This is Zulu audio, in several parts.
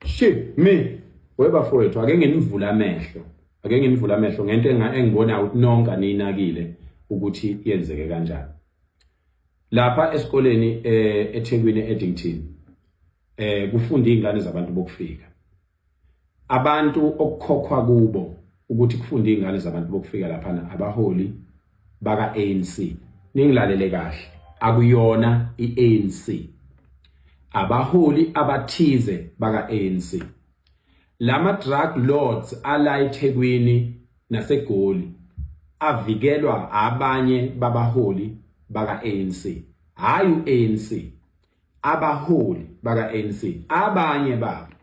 shit me webafowethu ake nginivule amehlo ake nginivule amehlo ngento engibona ukuthi nonke aninakile ukuthi yenzeke kanjani lapha esikoleni eh, eThekwini eEddington eh kufunda izingane zabantu bokufika abantu okukhokhwa kubo ukuthi kufunda izingane zabantu bokufika lapha abaholi baka ANC ningilalele kahle akuyona iANC abaholi abathize baka ANC lama drug lords ala eThekwini naseGoli avikelwa abanye babaholi baka ANC hayi uANC abaholi baka ANC abanye babo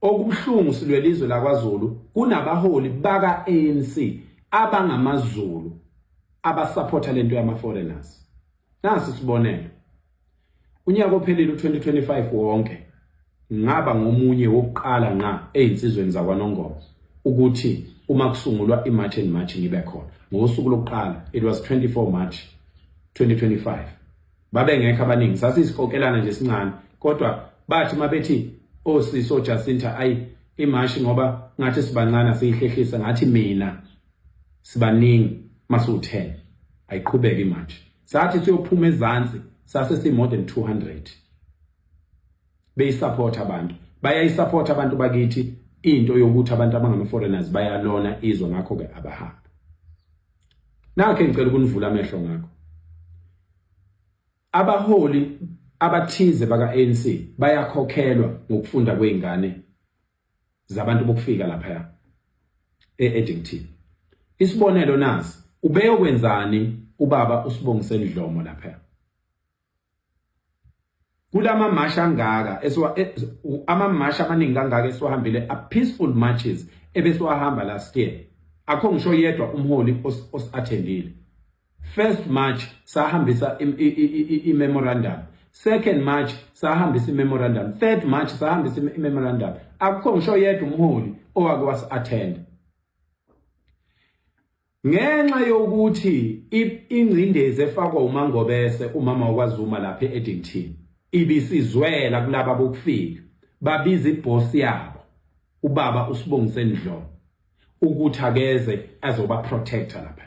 Okubuhlungu silwela izwe lakwaZulu kunabaholi baka ANC abangamaZulu abasupporta lento yama foreigners. Nasi sibonelo. Unyaka ophelile u2025 wonke ngaba ngomunye wokuqala nqa ezinsizweni zakwaNongoma ukuthi uma kusungulwa iMarch and March ngibe khona. Ngosuku lokuqala it was 24 March 2025. babengekho abaningi sasisikokelana nje sincane kodwa bathi mabethi osisi oh, ojacinta ayi imashi ngoba ngathi sibancane asiyihlehlisa ngathi mina sibaningi masiwu-10 ayiqhubeke imanje sathi siyophuma ezansi sase si-more than 200 beyisapotha abantu bayayisapotha abantu bakithi into yokuthi abantu abangama-foreigners bayalona izwe ngakho-ke abahambi nakho engicela ukunivula amehlo ngakho abaholi abathize baka ANC bayakhokhelwa ngokufunda kweingane zabantu bokufika lapha eEdington isibonelo nazi ubeyokwenzani ubaba usibongiseni Dlomo lapha kulama march angaka esiwa e, ama march amaningi kangaka esiwahambile a peaceful marches ebesiwahamba last year akho ngisho yedwa umholi osathendile first march sahambisa i memorandum second march sahambisa i memorandum third march sahambisa i memorandum akho ngisho yedwa umholi owake wasi attend Ngenxa yokuthi ingcindezi efakwa uMangobese umama wakwaZuma lapha e-Eddington ibisizwela kulaba bokufika babiza ibhosi yabo ubaba uSibongiseni Dlomo ukuthi akeze azoba protector lapha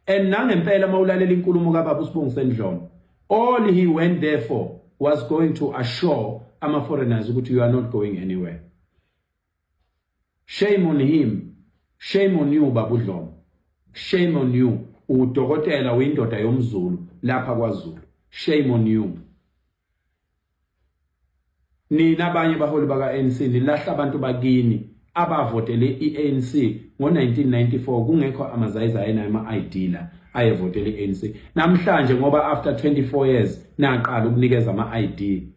and nangempela mawulalela inkulumo kababa uSibongiseni Dlomo all he went there for was going to assure ama foreigners ukuthi you are not going anywhere Shame on him. Shame on you baba uDlomo. Shame on you. Udokotela uyindoda yomZulu lapha kwaZulu. Shame on you. Nina abanye baholi bakaNC nilahla abantu bakini abavotele iANC ngo1994 kungekho amazayiza ayena ama-ID la ayevotele iANC. Namhlanje ngoba after 24 years naqala ukunikeza ama-ID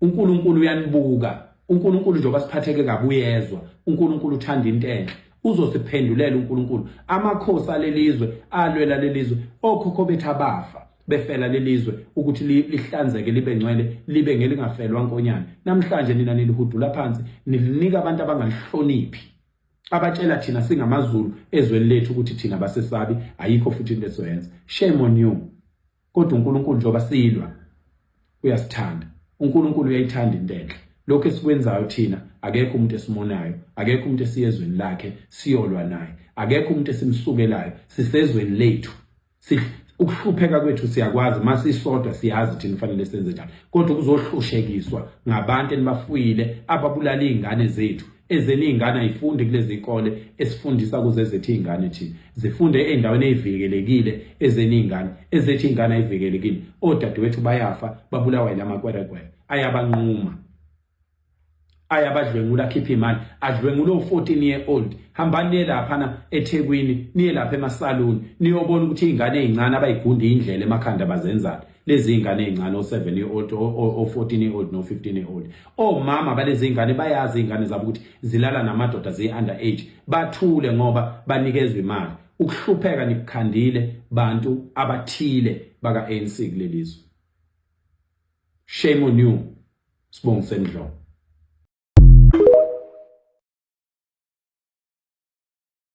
uNkulunkulu uyanibuka uNkulunkulu njengoba siphatheke kabi uyezwa uNkulunkulu uthanda into enhle uzosiphendulela uNkulunkulu amakhosi alelizwe alwela lelizwe okhokho bethu abafa befela lelizwe ukuthi lihlanzeke libe ngcwele libe ngelingafelwa nkonyane namhlanje nina nilihudula phansi nilinika abantu abangalihloniphi abatshela thina singamazulu ezweni lethu ukuthi thina basesabi ayikho futhi into esoyenza shame on you kodwa uNkulunkulu njengoba silwa uyasithanda uNkulunkulu uyayithanda into enhle lokho esikwenzayo thina akekho umuntu esimonayo akekho umuntu esiyezweni lakhe siyolwa naye akekho umuntu esimsukelayo sisezweni lethu ukuhlupheka kwethu siyakwazi masisodwa siyazi thina fanele senze njani kodwa ukuzohlushekiswa ngabantu enibafuyile ababulala izingane zethu Ezeni iy'ngane ayifundi kulezi y'kole esifundisa kuze ezethu iy'ngane thina zifunde ey'ndaweni ey'vikelekile ezeni iy'ngane ezethu iy'ngane ayivikelekile odadewethu bayafa babulawa yila makwerekwere ayabanquma ayabadlwengula akhiphe imali adlwengula u-14 year old hambani niye laphana ethekwini niye lapha emasaluni niyobona ukuthi iy'ngane ey'ncane abayigundi indlela emakhanda bazenzani lezi ingane ezincane o7 year old o14 year old no15 year old omama balezi ingane bayazi ingane zabo ukuthi zilala namadoda ze under age bathule ngoba banikezwe imali ukuhlupheka nikukhandile bantu abathile baka ANC kulelizwe shame on you sibonga semdloko